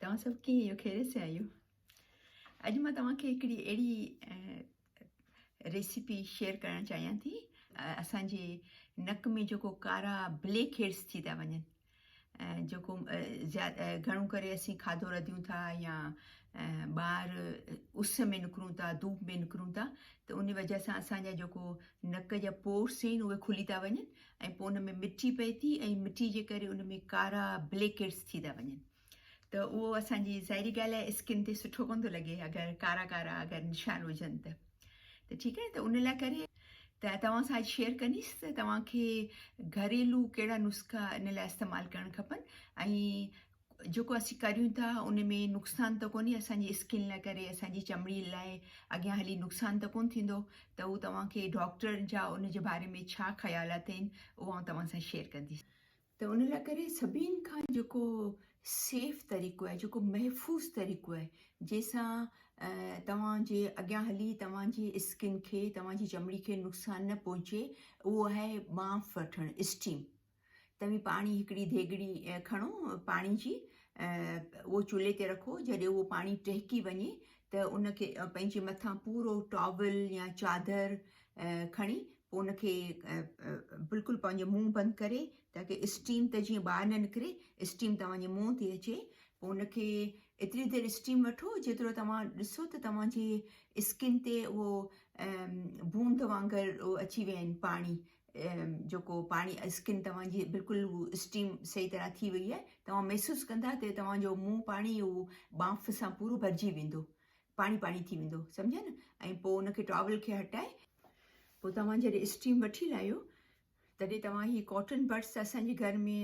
توهان سڀ ڪيئن آهيو خيريت سان آهيو اڄ مان توهان کي هڪڙي اهڙي ريسيپي شيئر ڪرڻ چاهيان ٿي اسان جي نڪ ۾ جيڪو ڪارا بليڪ هيڊس ٿي ٿا وڃن جيڪو گهڻو ڪري اسين کاڌو رڌيون ٿا يا ٻاهر اس ۾ نڪرون ٿا ڌوپ ۾ نڪرون ٿا ته ان وجه سان اسان جا جيڪو نڪ جا پورس آهن اهي کلي ٿا وڃن ۽ پوء ان ۾ مٽي پئي ٿي ۽ مٽي جي ڪري ان ۾ ڪارا بليڪيٽس ٿي ٿا وڃن ته اهو اسان جي ظاهري ڳالهه آهي اسڪن تي سٺو ڪون ٿو لڳي اگر ڪارا ڪارا اگر نشان هجن ته ته ٺيڪ آهي ته ان لاء ڪري ته توهان سان اڄ شيئر ڪنديس ته توهان کي گهريلو ڪهڙا نسخا ان لاء استعمال ڪرڻ کپن ۽ جيڪو اسين ڪريون ٿا ان ۾ نقصان ته ڪونهي اسان جي اسڪن لاء ڪري اسان جي چمڙي لاء اڳيان هلي نقصان ته ڪونه ٿيندو ته هو توهان کي ڊاڪٽر جا ان جي باري ۾ ڇا خيال اٿئين اهو آئون توهان سان شيئر ڪنديس ته ان لاء ڪري سڀني کان جيڪو سيف طريقو آهي جيڪو محفوظ طريقو آهي جنهن سان توهان جي اڳيان هلي توهان جي اسڪن کي توهان جي چمڙي کي نقصان نه پهچي اهو آهي ٻانف وٺڻ اسٽيم توهين پاڻي هڪڙي ديڳڙي کڻو پاڻي جي اهو چولهي تي رکو جڏهن اهو پاڻي ٽهڪي وڃي ته ان کي پنهنجي مٿان پورو ٽاول يا چادر کڻي پوء ان کي بلڪل پنهنجو منهن بند ڪري تاڪي اسٽيم ته جيئن ٻاهر نه نڪري اسٽيم توهانجي منهن تي اچي پوء ان کي ايتري دير اسٽيم وٺو جيترو توهان ڏسو ته توهانجي اسڪن تي اهو بوند وانگر اچي ويا آهن پاڻي جيڪو پاڻي اسڪن توهان جي بلڪل هو اسٽيم صحيح طرح ٿي وئي آهي توهان محسوس ڪندا ته توهان جو منهن پاڻي هو بانف سان پورو ڀرجي ويندو پاڻي پاڻي ٿي ويندو سمجهيا نه ۽ پوء ان کي ٽاول کي هٽائي پوء توهان جڏهن اسٽيم وٺي لاهيو تڏهن توهان هي ڪاٽن بڊس اسان جي گهر ۾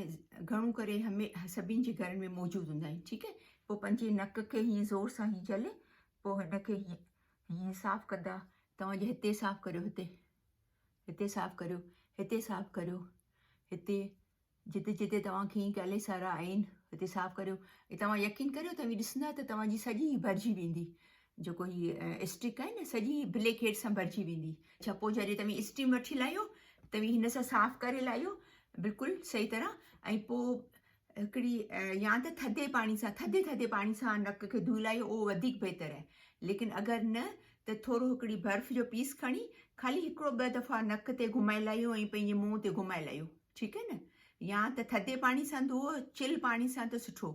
گهڻو ڪري همي سڀين جي گهرن ۾ موجود هوندا آهن ٺيڪ آهي پوء پنهنجي نڪ کي هيئن زور سان هيئن جهلي پوء هن کي هيئن هيئن صاف ڪندا توهان جي هتي صاف ڪريو هتي هتي صاف ڪريو، هتي صاف ڪريو، هتي جتي جتي توهان کي ڪئلي سارا آهن هتي صاف ڪريو ۽ توهان يقين ڪريو توهين ڏسندا ته توهان جي سڄي ڀرجي ويندي جيڪو هي اسٽڪ آهي نه سڄي بليڪ هيڊ سان ڀرجي ويندي ڇپو جڏهن توهين اسٽيم وٺي لاهيو توهين هن سان صاف ڪري لاهيو بلڪل صحيح طرح ۽ پوء هڪڙي يا ته ٿڌي پاڻي سان ٿڌي ٿڌي پاڻي سان نڪ کي ڌوئي لائي اهو وڌيڪ بهتر آهي ليڪن اگر نه ته ٿورو هڪڙي برف جو پيس کڻي خالي هڪڙو ٻه دفعا نڪ تي گهمائي لائيو ۽ پنهنجي منهن تي گهمائي لائيو ٺيڪ آهي نه يا ته ٿڌي پاڻي سان ڌوء چل پاڻي سان ته سٺو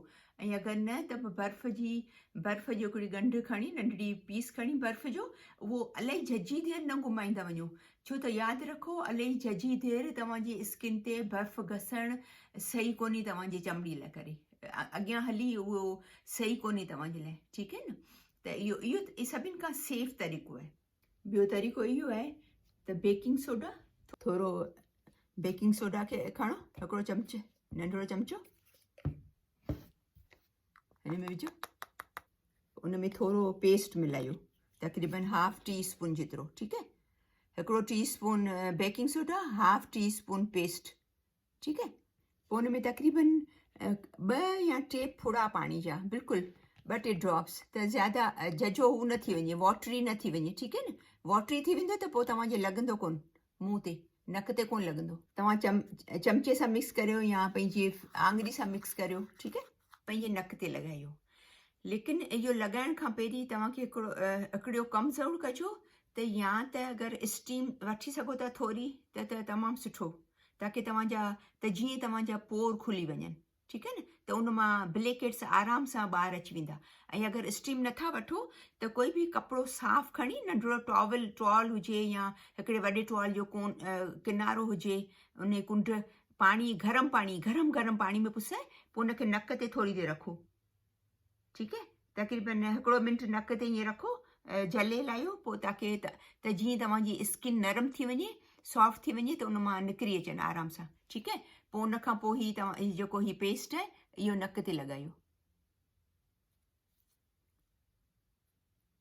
۽ اگر نه ته برف جي برف جو هڪڙي ڳنڍ کڻي ننڍڙي پيس کڻي برف جو اهو الاهي جھجھي دير نه گهمائيندا وڃو ڇو ته ياد رکو الهي ججهي دير توهان جي اسڪن تي برف گسڻ صحيح ڪونهي توهان جي چمڙي لاء ڪري اڳيان هلي اهو صحيح ڪونهي توهان جي لاء ٺيڪ آهي نه ته اهو اهو سڀني کان سيف طريقو آهي ٻيو طريقو اهو آهي ته بيڪنگ سوڊا ٿورو بيڪنگ سوڊا کي کڻو هڪڙو چمچ ننڍڙو چمچو ان ۾ وجھو ان ۾ ٿورو پيسٽ ملايو تقريبن هاف ٽي اسپون جيترو ٺيڪ آهي هڪڙو teaspoon baking soda half teaspoon paste ٺيڪ آهي پوء ان ۾ تقريبن ٻه يا ٽي ڦڙا پاڻي جا بلڪل ب ٽي ڊراپس ته زیادہ ججو هو نه ٿي وڃي واٽري نه ٿي وڃي ٺيڪ آهي نه واٽري ٿي ويندو ته پوء توهان کي لڳندو ڪون منهن تي، نڪ تي ڪونه لڳندو. توهان چم چمچي سان مڪس ڪريو يا پنهنجي آڱري سان مڪس ڪريو ٺيڪ آهي. پنهنجي نڪ تي لڳايو ليڪن اهو لڳائڻ کان پهرين توهان کي هڪڙو هڪڙيو ڪم ضرور ڪجو ته يا ته اگر اسٽيم وٺي سگهو ٿا ٿوري ته ته تمام سٺو تاڪي توهان جا ته جيئن توهان جا پور کلي وڃن. ٺيڪ آهي نه ته ان مان بليڪيٽس آرام سان ٻاهر اچي ويندا ۽ اگر اسٽيم نٿا وٺو ته ڪوئي به ڪپڙو صاف کڻي ننڍڙو ٽاول ٽوال هجي يا هڪڙي وڏي ٽوال جو ڪون ڪنارو هجي ان جي ڪنڊ پاڻي گرم پاڻي گرم گرم پاڻي ۾ پسائي پوء ان کي نڪ تي ٿوري دير رکو ٺيڪ آهي تقريبن هڪڙو منٽ نڪ تي ائين رکو جلي لاهيو پوء تاڪي ته جيئن توهان جي اسڪن نرم ٿي وڃي سافٽ ٿي وڃي ته ان مان نڪري اچن آرام سان ٺيڪ آهي پوء ان کان پوء هي توهان هي جيڪو هي پيسٽ آهي اهو نڪ تي لڳايو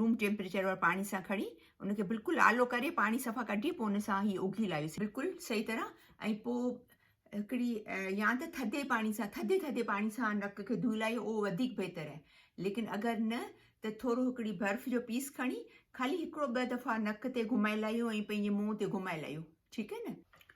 روم ٽيمپريچر واري پاڻي سان کڻي ان کي بلڪل آلو ڪري پاڻي صفا ڪڍي پوء ان سان هي اگهي لاهيوسين بلڪل صحيح طرح ۽ پوء هڪڙي يا ته ٿڌي پاڻي سان ٿڌي ٿڌي پاڻي سان نڪ کي ڌوئي لاهيو اهو وڌيڪ بهتر آهي ليڪن اگر نه ته ٿورو هڪڙي برف جو پيس کڻي خالي هڪڙو ٻه دفعا نڪ تي گهمائي لاهيو ۽ پنهنجي منهن تي گهمائي لاهيو ٺيڪ آهي نه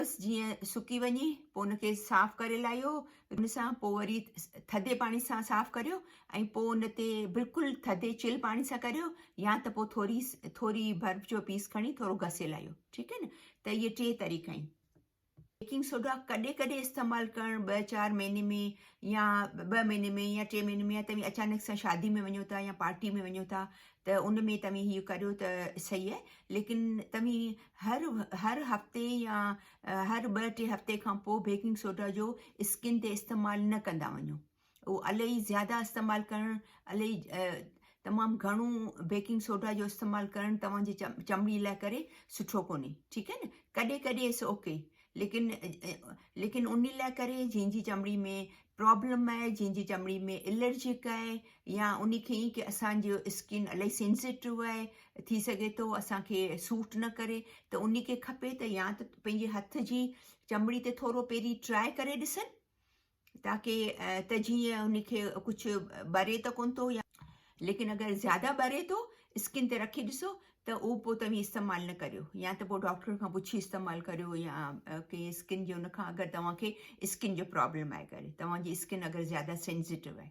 بس جيئن سڪي وڃي پوء ان کي صاف ڪري لاهيو ان سان پوء وري ٿڌي پاڻي سان صاف ڪريو ۽ پوء ان تي بلڪل ٿڌي چل پاڻي سان ڪريو يا ته پوء ٿوري ٿوري برف جو پيس کڻي ٿورو گسي لاهيو ٺيڪ آهي نه ته اهي ٽي طريقا آهن بيڪنگ سوڊا ڪڏهن ڪڏهن استعمال ڪرڻ ٻه چار مهيني ۾ يا ٻه مهيني ۾ يا ٽي مهيني ۾ يا توهين اچانڪ سان شادي ۾ وڃو ٿا يا پارٽي ۾ وڃو ٿا ته ان ۾ توهين هيء ڪريو ته سهيء، ليڪن توهين هر هر هفتي يا هر ٻه ٽي هفتي کان پوء بيڪنگ سوڊا جو اسڪن تي استعمال نه ڪندا وڃو. اهو الائي زياده استعمال ڪرڻ الائي تمام گهڻو بيڪنگ سوڊا جو استعمال ڪرڻ توهان جي چمڙي لاء ڪري سٺو ڪونهي. ٺيڪ آهي نه. ڪڏهن ڪڏهن اٽس اوڪي. ليڪن ليڪن ان لاء ڪري جنهن جي چمڙي ۾ پرابلم آهي جنهن جي چمڙي ۾ الرجڪ آهي يا ان کي ائين ڪي اسانجو اسڪن الاهي سينسيٽو آهي ٿي سگهي ٿو اسانکي سوٽ نه ڪري ته ان کي کپي ته يا ته پنهنجي هٿ جي چمڙي تي ٿورو پهرين ٽرائي ڪري ڏسن تاڪه ته جيئن ان کي ڪجهه ٻري ته ڪونه ٿو يا ليڪن اگر زياده ٻري ٿو اسڪن تي رکي ڏسو ته اهو پوء توهين استعمال نه ڪريو يا ته پوء ڊاڪٽر کان پڇي استعمال ڪريو يا ڪنهن اسڪن جي ان کان اگر توهان کي اسڪن جو پرابلم آهي ڪري توهان جي اسڪن اگر زياده سينزيٽو آهي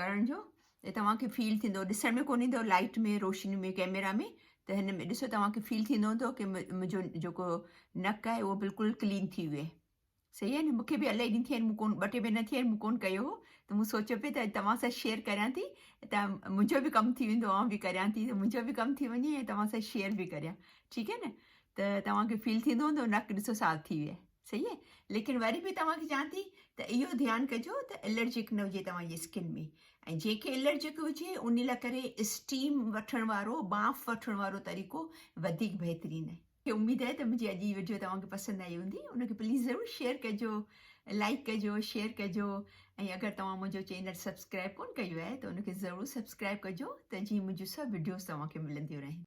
ڪرڻ جو ته توهان کي فيل ٿيندو ڏسڻ ۾ ڪونهي ايندو لائٽ ۾ روشني ۾ ڪيميرا ۾ ته هن ۾ ڏسو توهان کي فيل ٿيندو هوندو ڪي منهنجو جيڪو نڪ آهي اهو بلڪل ڪلين ٿي ويو آهي صحيح آهي نه مون کي به الاهي ڏينهن ٿي ويا آهن مون ڪون ٻه ٽي مهينا ٿي ويا آهن مون ڪون ڪيو هو ته مون سوچيو پئي ته توهان سان شيئر ڪريان ٿي ته منهنجو به ڪم ٿي ويندو آئون به ڪريان ٿي ته منهنجو به ڪم ٿي وڃي ۽ توهان سان شيئر به ڪريان ٺيڪ آهي نه ته توهان کي فيل ٿيندو هوندو نڪ ڏسو صاف ٿي ويو آهي صحيح آهي ليڪن وري به توهان کي چوان ٿي ته اهو ڌيان ڪجو ته الرجڪ نه هجي توهان جي اسڪن ۾ ۽ جنهنکي الرجڪ هجي ان لاء ڪري اسٽيم وٺڻ وارو بانف وٺڻ وارو طريقو وڌيڪ بهترين آهي کي اميد آهي ته منهنجي اڄ جي وڊيو توهان کي پسند آئي هوندي ان کي پليز ضرور شيئر ڪجو لائڪ ڪجو شيئر ڪجو ۽ اگر توهان منهنجو چينل سبسڪرائب ڪون ڪيو آهي ته ان کي ضرور سبسڪرائب ڪجو ته جيئن منهنجون سڀ وڊيوز توهان کي ملنديون رهن